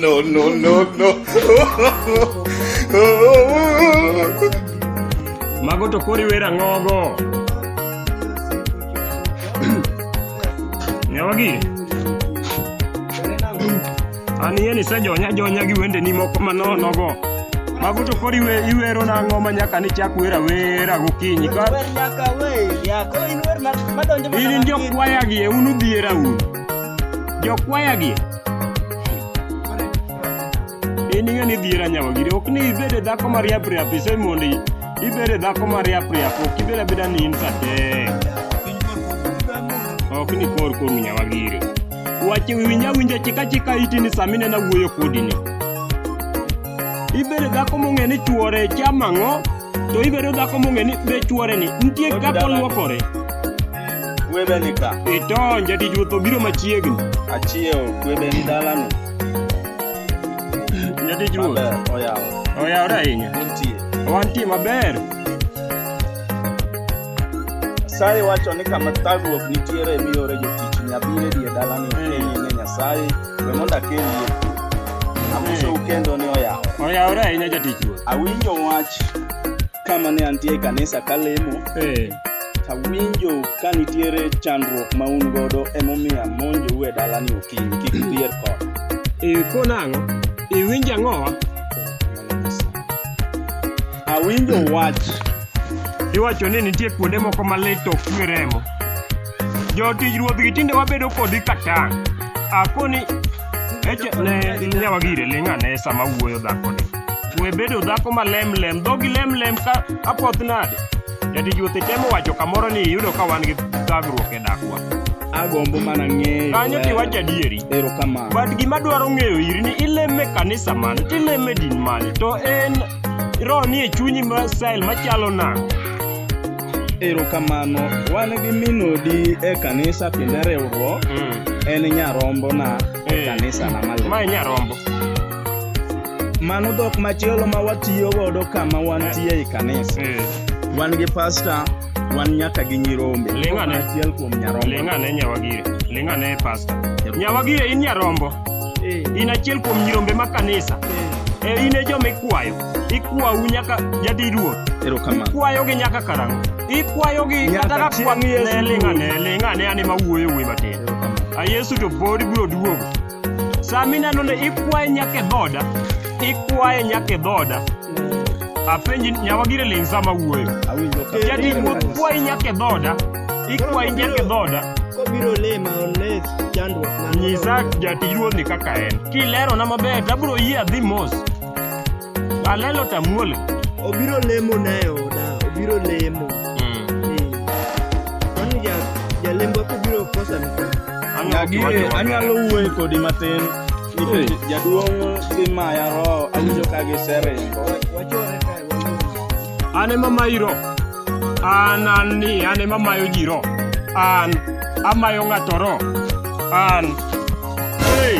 no, no, no, no. Mago to kori wera ngogo. Nyawagi. Anieni sejonya jonya gi wendeni moko manonogo. Mago to koro iwe, iwero nang'o ma nyaka nichak wer awera gokinyi ka Wer nyaka we, yako in wer ma- madonjo mana in matin. jokwayagi e un udhiera un jokwayagi in ing'e ni dhiera nyawagiri ok ni ibed e dhako mariap riap ise mondo i- ibed e dhako mariap riap ok ibed abeda ni in sate ok ni kor koru nyawagiri Wache winja winja chika chika iti ni samine na wuoyo kodi ni. Ibere dhako mong'e ni chuore chama ng'o, to ibere dhako mong'e ni be chuore ni. Nitie kaka oluokore. Kwebe ni ka. Ito, njati juotho biro machiegni. Achiewo, kwebe ni dalano. Njati juotho. Maber, oyawo. Oyawre ahinya. Untie. Wantie maber. Nyasaye wacho ni kama thagruok nitiere miyore jotichni abiro e dier dalani okenyie ne Nyasaye we mondo akelie amosou kendo ni oyawo Oyawore ahinya jatich ruoth. awinjo wach kama ne antie e kanisa kalemo Eh, tawinjo ka nitiere chandruok ma un godo emomiyo amonjou e dalani okinyi kik udier kod ikona ang'o? Iwinjo ang'owa? Awinjo wach. Iwacho ni nitie kuonde moko ma lit to ok twe remo. Jotij ruodhgi tinde wabedo kodi ka tang'. Akoni eche ne nyawa gire ling' ane sama wuoyo dhakoni. We bedo dhako ma lem lem, dhogi lem lem ka apoth nade. Jatij ruoth itemo wacho kamoro ni iyudo ka wan gi thagruok e dakwa. Agombo mana ng'eyo. Kanyo to iwacho adieri. Erokamano. But gima dwaro ng'eyo iri ni ileme kanisa mane, tileme din mane, to en Roho nie chunyi ma style machalo nang'o? Erokamano, wan gi min odi e kanisa kendo e riwruok, Mm. en nyarombona e Eh. kanisana maler. Ma e nyarombo. Mano dhok machielo ma watiyo godo kama wantie e kanisa. Mm. Wan gi pasta, wan nyaka gi nyirombe Ling' ane. achiel kuom nyarombo ling' ane nyawagire ling' ane pasta nyawagire in nyarombo in achiel kuom nyirombe ma kanisa e in e joma ikwayo ikwau nyaka jadi ruoth erokamano kwayogi nyaka karang'o ikwayogi Nyaka kata ka chieng' kwa- Yesu. ne ling' ane ling' ane ane mawuoyo wuoyi matin Erokamano. a yesu to pod biro duogo Sama ineno ni ikwaye nyaka e dhoda, ikwaye nyaka e dhoda. Apenji nyawa gire ling sama wuoyo. Awinjo ka. Jadi wuoth kwayi nyaka e dhoda, ikwayi nyaka e dhoda. Kobiro lema oles chandruok mane Nyisa jatij ruodhni kaka en. Kilerona maber, tabro yie adhi mos. Alelo tamuole. Obiro lemo na e oda, obiro lemo. Kwani ja jalembo kobiro kosa ni. Anyalo wuoyo kodi matin. Nikech jaduong' gi maya roho awinjo ka giseringo. Wachore kae. An ema mayiro. An an ni an ema mayo ji roho. An amayo ng'ato roho. An. Hey.